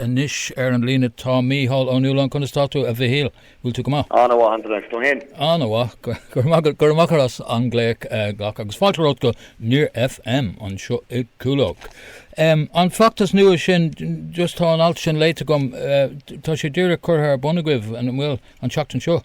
Anois ar an líne tá Mícheál Ó Nualláin. Conas tá tú, a Mhichíl? Bhfuil tú go maith? An-mhaith, agus tú fhéin? An-mhaith, go raibh maith agat. Go raibh maith agat as an glaoch a ghlacadh agus fáilte romhat go Near FM anseo i gCúlóg. An feachtas nua sin, just tá an alt sin léite agam, tá sé díreach curtha ar bun agaibh, an bhfuil, an tseachtain seo?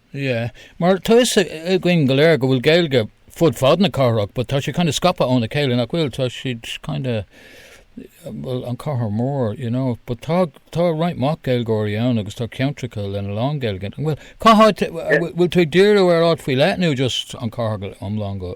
Yeah. Mar tá 'fhios againn go léir go bhfuil Gaeilge fud fad na cathrach but tá siad kind of scaipthe óna chéile, nach bhfuil? Tá siad kind of, bhuel, an chathair mhór, you know, but tá, tá roinnt mhaith Gaeilgeoirí ann agus tá ceantracha lena lán Gaeilge. An bhfuil, cá háit, bhfuil tú ag díriú ar áit faoi leith nó just an chathair go hiomlán go?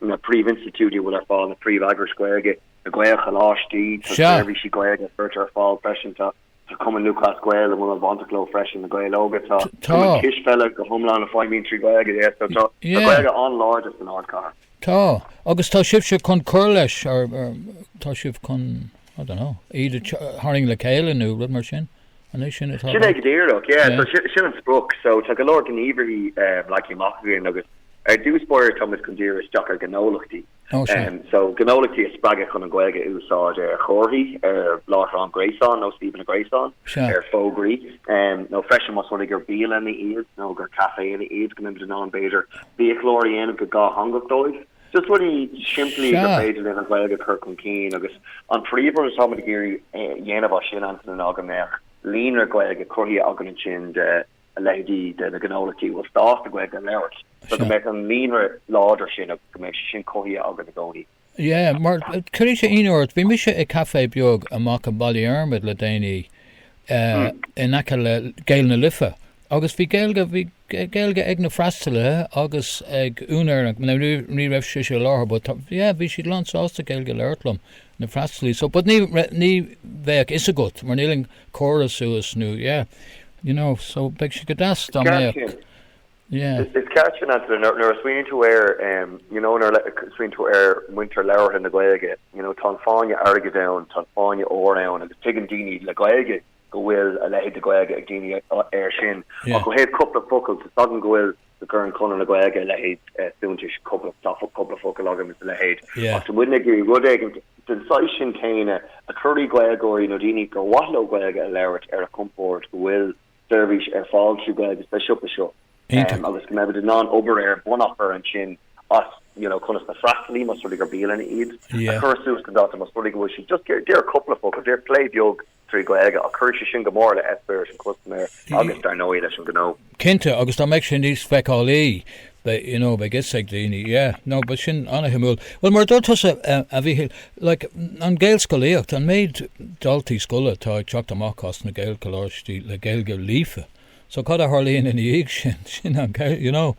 na príomhinstitiúidí a bhfuil ar fáil na príomheagrais Ghaeilge na Gaelcholáistí, tá seirbhísí Gaeilge a chuirtear ar fáil freisin, tá Cumann Lúthchleas Gael a bhfuil an-bhainteach leo freisin, na Gaeil Óga, tá Cumann Cispheile go hiomlán a feidhmíonn trí Ghaeilge, yes, so tá Gaeilge an-láidir san ardchathair. Tá, agus tá sibhse chun cur leis, tá sibh chun, I don't know, iad a tharraing le chéile nó rud mar sin? Anois sin atá. Sin é go díreach, yeah, so sin sin an sprioc. So tá go leor gníomharthaí um leagtha amach againn agus ar dtús b'fhéidir táimid chun díriú isteach ar ghnólachtaí. Ó sea. Um so gnólachtaí a spreagadh chun an Ghaeilge a úsáid ar chomharthaí, ar láithreán gréasáin nó suíomhanna gréasáin, Sea. ar fhógraí, um nó freisin más rud é gur bialanna iad nó gur caiféanna iad, go minic den am b'fhéidir biachláir a dhéanamh go dátheangach dóibh. Just rudaí simplí gur Sea. féidir linn an Ghaeilge a chur chun cinn agus an príomhrud atáimid ag iarraidh é a dhéanamh as sin ansin ná go mbeadh líonra Gaeilge cruthaithe againn ansin de a leithéidí de na gnólachtaí a bhfuil sásta Gaeilge a labhairt so go Sea. mbeadh an líonra láidir sin agus go mbeadh sé sin cruthaithe againn i gcónaí. Yeah, mar cuirfidh sé ionadh ort. Bhí mise i gcaife beag amach i mBaile Dhiarmaid le déanaí eh, in aice le Gaeil na Life. Agus bhí Gaeilge, bhí Gaeilge ag na freastalaithe agus ag an úinéir, ach ní raibh sise i láthair but yeah bhí siad lán sásta Gaeilge a labhairt liom, na freastalaí, so but ní raibh, ní bheadh fhios agat mar níl an córas suas nó yeah, you know, so bheadh sé go deas dá mbeadh, yeah. Is ceart sin Antaine, nuair a smaoiníonn tú air, you know, nuair a smaoiníonn tú ar mhuintir labhartha na Gaeilge, you know, tá an fáinne airgid ann, tá an fáinne óir ann agus tuigeann daoine le Gaeilge go bhfuil a leithéid de Ghaeilge ag daoine air sin. Ach ó thaobh cúpla focal, tá s'agam go bhfuil go gcuireann Conradh na Gaeilge a leithéid suntais. Tá cúpla focal agam is a leithéid. Ach tá muidne ag iarraidh rud éigin den saghas sin céanna a chur, Gaeilgeoirí nó daoine gur mhaith leo Gaeilge a labhairt ar a chompord, go bhfuil seirbhís ar fáil trí Ghaeilge sa siopa seo agus go mbeimid in ann obair ar bun a chur ansin as conas na freastalaí, más rud é gur bialanna iad, a chur suas don dalta, más rud é go bhfuil siad just, deir cúpla focal, deir plé beag trí Ghaeilge ach chuir sé sin go mór le eispéireas an chustaiméir agus, dar ndóigh, leis an ghnó. Cinnte, agus dá mbeadh sé níos feiceálaí, bheadh, you know, bheadh a fhios ag daoine, yeah. No, bheadh sin an-shuimiúil. Bhuel, mar a dúirt tusa, a Mhíchíl, like, an Ghaelscolaíocht, an méid daltaí scoile atá ag teacht amach as na Gaelcholáistí le Gaeilge líofa, So cad a tharlaíonn ina dhiaidh sin? Sin an ceist, you know,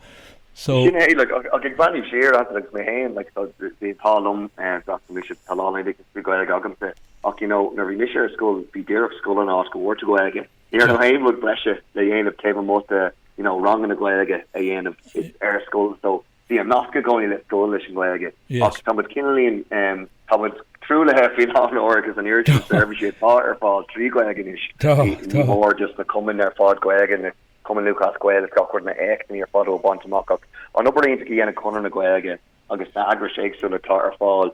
so. Sin é, like, ach ag breathnú siar air agus mé féin, like, tá, bhí, tá liom, eh, d'fhreastail mise, tá lán oideachas trí Ghaeilge agamsa, ach, you know, nuair a bhí mise ar scoil, ba í díreach an scoil an áit go bhfuair tú Gaeilge. Ní raibh Sure. aon rud breise le déanamh taobh amuigh de, you know, ranganna Gaeilge a dhéanamh ar scoil, so Bhí an nasc i gcónaí le scoil leis an nGaeilge ach tá muid cineál, tá muid truaillithe faoi láthair agus an oiread sin seirbhísí atá ar fáil trí Ghaeilge anois, ní hamháin just na cumainn ar fad Gaeilge, na Cumainn Lúthchleas Gael is gach rud, na éachtaí ar fad á bhaint amach ach an obair iontach a dhéanann Conradh na Gaeilge agus na heagrais éagsúla atá ar fáil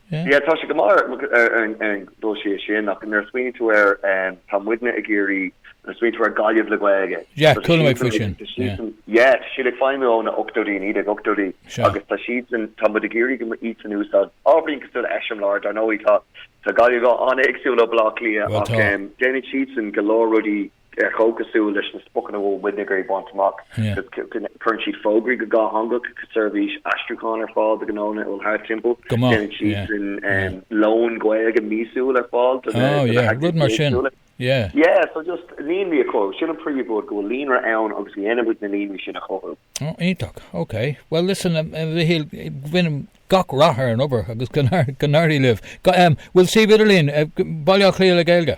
Yeah tá sé go maith ar an dul síos sin ach nuair a smaoiníonn tú ar tá muidne ag iarraidh nuair a smaoiníonn tú ar Gaillimh le Gaeilge. Yeah chuala mé faoi sin yeah. Yeah tá siad ag feidhmiú ó na ochtóidí nó na nóchaidí agus tá siadsan tá muid ag iarraidh iadsan a úsáid ábhairín cosúil le eiseamláir dar ndóigh tá Gaillimh an-éagsúil ó Bhaile Átha Cliath ach déanann siadsan go leor rudaí atá cosúil leis na spriocanna a bhfuil muidne ag iarraidh a bhaint amach. Cuireann siad fógraí go dátheangach, seirbhís aistriúcháin ar fáil do ghnónna a bhfuil thart timpeall, déanann siadsan lón Gaeilge míosúil ar fáil do na heagrais éagsúla. Líonraí a chothú, sin an príomhrud, go bhfuil líonra ann agus déanann muid na líonraí sin a chothú. Iontach, ok. Bhuel listen, a Mhichíl, guím gach rath ar an obair agus go n-éirí libh. Bhfuil suíomh idirlín, Baile Átha Cliath le Gaeilge?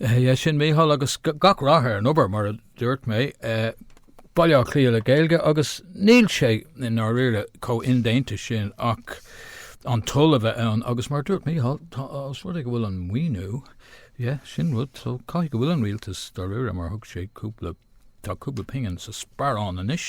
Sea sin Mícheál agus gach rath ar an obair mar a dúirt mé. Baile Átha Cliath le Gaeilge agus níl sé i ndáiríre chomh dodhéanta sin ach an toil a bheith ann agus mar a dúirt Mícheál tá os rud é go bhfuil an maoiniú, yeah, sin rud so caithfidh go bhfuil an rialtas dáiríre mar thug sé cúpla, tá cúpla pingin sa sparán anois.